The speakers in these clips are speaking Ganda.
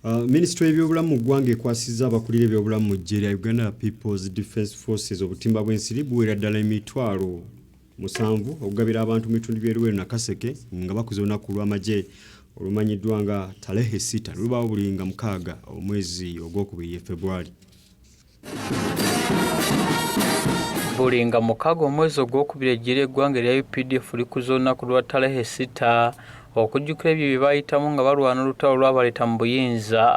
Uh, minisitule y'ebyobulamu mu ggwanga ekwasizza abakulira ebyobulamu mu ggye lya uganda peoples defence forces obutimba bw'ensiri buweera ddala emitwalo musanvu okugabira abantu mu bitundu by'eruweru nakaseke nga bakuza olunaku lw'amagye olumanyiddwa nga talehe sita lulubaawo buli nga mukaaga omwezi ogwokubiri ye februari buli nga mukaaga omwezi ogwokubiri ejjira eggwanga erya updf likuza olunaku lwa talehe sita okujjukira ebyo bye baayitamu nga balwana olutalo lwabaleeta mu buyinza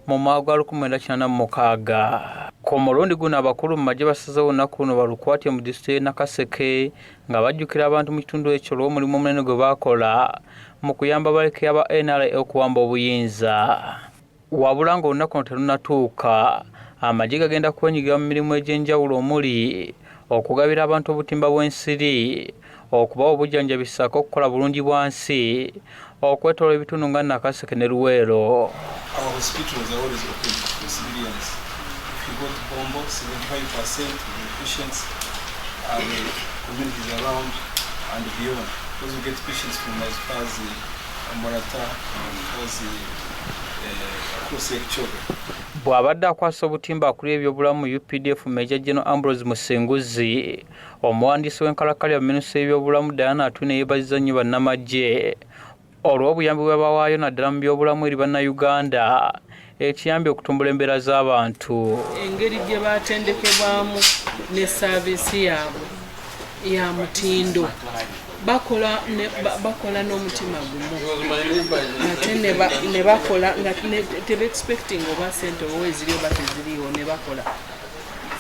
mu mwaka gwa 1986 ku mulundi guno abakulu mu magye basazewo olunaku luno balukwatye mu disitulikiti y'e nakaseke nga bajjukira abantu mu kitundu ekyo olw'omulimu omunene gwe baakola mu kuyamba baleke aba nra okuwamba obuyinza wabula ng'olunaku no terunatuuka amagye gagenda kwenyigira mu mirimu egy'enjawulo omuli okugabira abantu obutimba bw'ensiri okubawa obujjanjabi ssaako okukola bulungi bwa nsi okwetoola ebitundu nga nakaseke ne luweero Bw'abadde akwasa obutimba akulira ebyobulamu mu updf Major General Ambrose Musinguzi, omuwandiisi w'enkalakkalira mu minisitule y'ebyobulamu Diana Atwine yeebazizza nnyo bannamaggye olw'obuyambi bwe bawaayo naddala mu byobulamu eri bannayuganda. ekiyambye okutumbula embeera z'abantu engeri gye batendekebwamu ne saaviisi yaabwe ya mutindo bakola bakola n'omutima gumu ate ne bakola nga tebexpecting oba sente oba eziriyo bateziriiwo ne bakola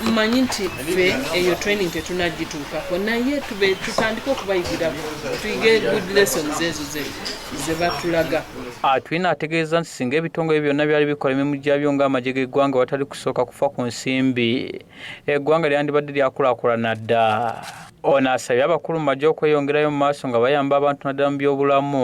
mmanyi nti ffe eyo training tetunagituukako naye tube tutandike okubayigirako tuyige good lessons ezo ze batulaga atwina ah, ategeeza nti singa ebitongole byonna byali bikola emirimu gyabyo ng'amagye g'eggwanga watali kusooka kufa ku nsimbi eggwanga lyandibadde lyakulakulana dda ono asabye abakulu mu magye okweyongerayo mu maaso nga bayamba abantu naddala mu byobulamu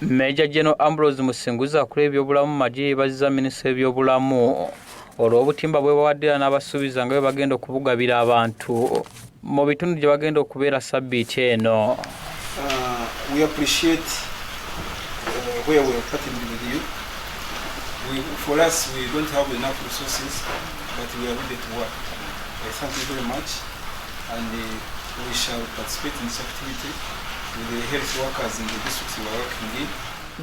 Major General Ambrose Musinguzi akulira ebyobulamu mu magye yeebazizza minisita w'ebyobulamu olw'obutimba bwe bawaddira n'abasuubiza nga bwe bagenda okubugabira abantu mu bitundu gye bagenda okubeera sabbiiti eno uh, and uh, we shall participate in this activity with the health workers in the districts we are working in.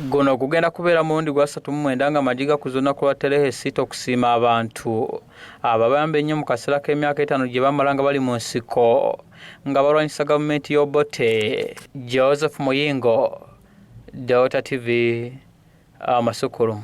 guno gugenda kubeera mulundi gwa satu mu mwenda nga amagi gakuza olunaku lwa terehesita okusiima abantu ababayamba ennyo mu kaseera k'emyaka etaano gye bamala nga bali mu nsiko nga balwanyisa gavumenti y'obote joseph muyingo delta tv amasukulumu